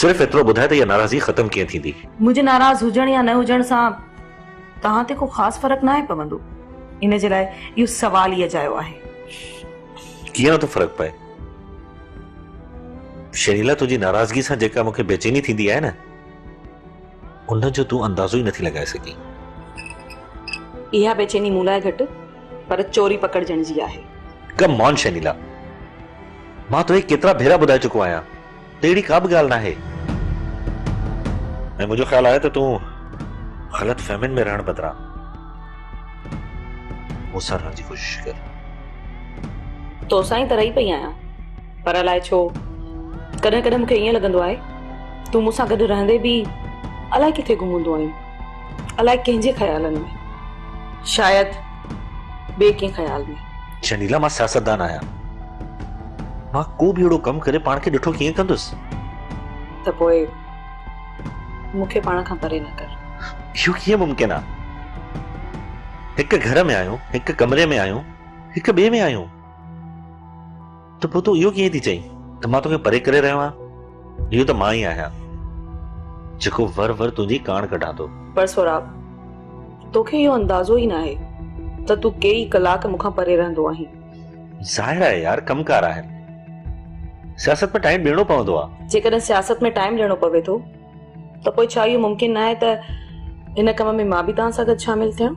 صرف ايترو ٻڌاء ته اها ناراضگي ختم ڪيئن ٿيندي؟ منهنجي ناراض هجڻ يا نه هجڻ سان توهان تي ڪو خاص فرق ناهي پوندو. ان جي لاء اهو سوال ئي اجايو آهي. ڪيئن نٿو فرق پئي؟ شهريلا تنهنجي ناراضگي سان جيڪا مون کي بيچيني ٿيندي آهي نه ان جو تون اندازو ئي نٿي لڳائي سگهين. اها بيچيني مون لاء گهٽ پر چوري پڪڙجڻ جي آهي. ڪم آن شهريلا! مان توکي ڪيترا ڀيرا ٻڌائي چڪو آهيان ته اهڙي ڪا به ڳالهه ناهي ۽ منهنجو خيال آهي ته تون غلط فهمين ۾ رهڻ بدران مون سان رهڻ جي ڪوشش ڪر. توسان ئي ته رهي پئي آهيان پر الائي ڇو ڪڏهن ڪڏهن مون کي ائين لڳندو آهي تون مون سان گڏ رهندي به الائي ڪٿي گم هوندو آهين الائي ڪنهن جي خيالن ۾. شايد ٻئي ڪنهن خيال ۾. شنيلا مان سياستدان آهيان. مان ڪو به اهڙو ڪم ڪري پاڻ کي ڏٺو ڪيئن ڪندس. ته پوء مون کي پاڻ کان پري نه ڪر. اهو ڪيئن ممڪن آ. هڪ گهر ۾ آهيون، هڪ ڪمري ۾ آهيون، هڪ ٻئي ۾ آهيون. ته پوء تون اهو ڪيئن ٿي چئين ته مان توکي پري ڪري رهيو آهيان؟ اهو ته مان ئي آهيان، جيڪو ور ور تنهنجي ڪاڻ ڪڍان ٿو. پر سهراب، توکي اهو اندازو ئي ناهي ته تون ڪي ئي ڪلاڪ مون کان پري رهندو آهين. ظاهر آهي يار، ڪم ڪار آهن. سياست ۾ ٽائيم ڏيڻو پوندو آهي. جيڪڏهن سياست ۾ ٽائيم ڏيڻو پوي ٿو ته پوء ڇا اهو ممڪن ناهي ته هن ڪم ۾ مان به توهان سان گڏ شامل ٿيان؟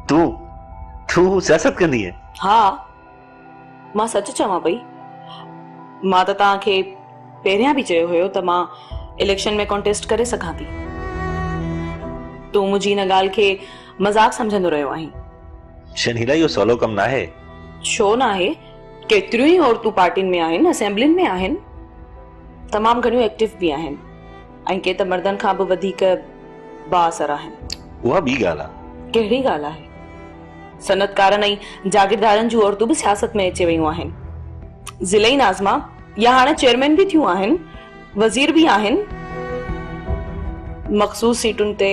تون تون سياست ڪندينء؟ ها مان سچ چوان پئي مان ته توهان کي پهريان به چيو هيو ته مان اليڪشن ۾ ڪانٽيسٽ ڪري سگهان ٿي تون منهنجي ان ڳالهه کي مذاق سمجهندو رهيو آهين شنيلا اهو سولو ڪم ناهي ڇو ناهي ڪيتريون ئي عورتون پارٽين ۾ آهن اسيمبلين ۾ آهن تمام گهڻيون ايڪٽيو به آهن ۽ ڪي ته مردن کان به وڌيڪ بااثر آهن. اها ٻي ڳالهه آهي. ڪهڙي ڳالهه آهي؟ صنعتڪارن ۽ جاگيردارن جون عورتون به سياست ۾ اچي ويون آهن. ضلعي ناظما يا هاڻي چيئرمين به ٿيون آهن، وزير به آهن. مخصوص سيٽن تي